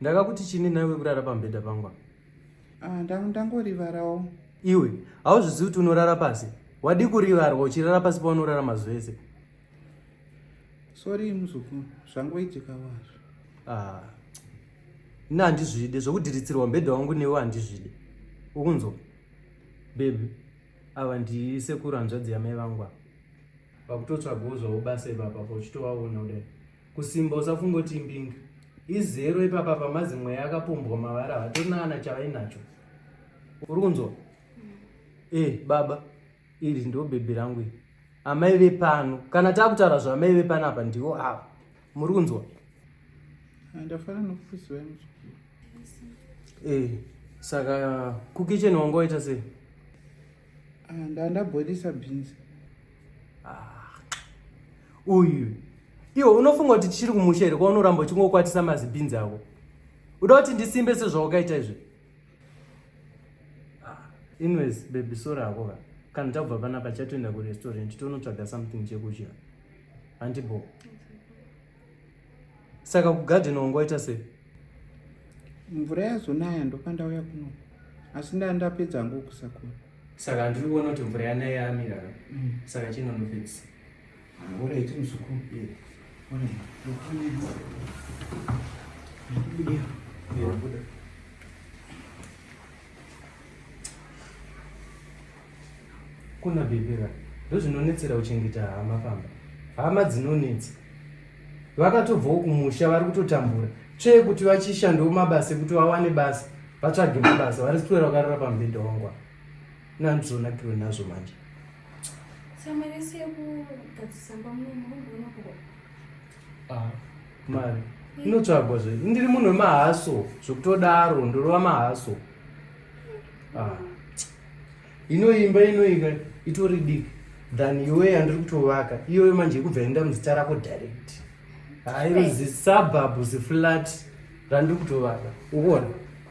ndakakuti chini naiwe kurara pambhedha pangwa ah, ndangorivarawo iwe hauzvizivi kuti unorara pasi wadii kurivarwa uchirara pasi paunorara mazuva ese sori muzukuru zvangoitika wazvo ah, ini handizvide zvokudhiritsirwa mbhedha wangu newe handizvide ukunzwa bebi ava ndisekuru hanzvadzi yamai vangwa Pakutotsvagawo zvavo basa ipapa pauchitovaona kudai. Kusimba usafunga kuti imbinga. Izero ipapa pamazi mweya akapombwa mavara hatorina kana chavainacho. Uri kunzwa? Mm. Eh, baba, iri ndo bhebhi rangu iri. Amai vepano. Kana takutaura zvamai vepano apa ndivo ava. Muri kunzwa? Ndafana nokufusi wenyu. Eh, saka kukicheni wangu waita sei? Ah, ndandabhoilisa beans ah, uyu iwe unofunga kuti tichiri kumusha here kwaunoramba uchingokwatisa mazibhinz ako uda kuti ndisimbe sezvawakaita izvi ah, anyways bebi sori ako ka kana tabva panapa chatoenda kurestaurant tonotsvaga something chekudya handibo Saka kugarden wangu waita sei? Mvura yazonaya ndopandauya kuno. Asi ndaa ndapedza hangu kusakura. Saka handiri kuona kuti mvura yanaya yamira. Mm. Saka chino nopedzisa. Mvura iti muzukuru. Yeah. Ona. Ndokubuda. Yeah, buda. kuna bebera ndozvinonetsera kuchengeta hama pamba hama dzinonetsa vakatobvawo kumusha vari kutotambura tsvee kuti vachishandawo mabasa ekuti vawane basa vatsvage mabasa vari sitora vakarara pamubhedha wangwa nandizonakiwe nazvo manje samarese yekugadzisa mbamunomurumbonoko Ah, mari inotsvagwa zve ndiri munhu wemahaso zvekutodaro ndorova mahaso ah. inoimba inoika itori diki than iwe yandiri kutovaka iyoyo manje ikubva enda muzita rako direct hairo zisabhabhu ziflat randiri kutovaka ukuona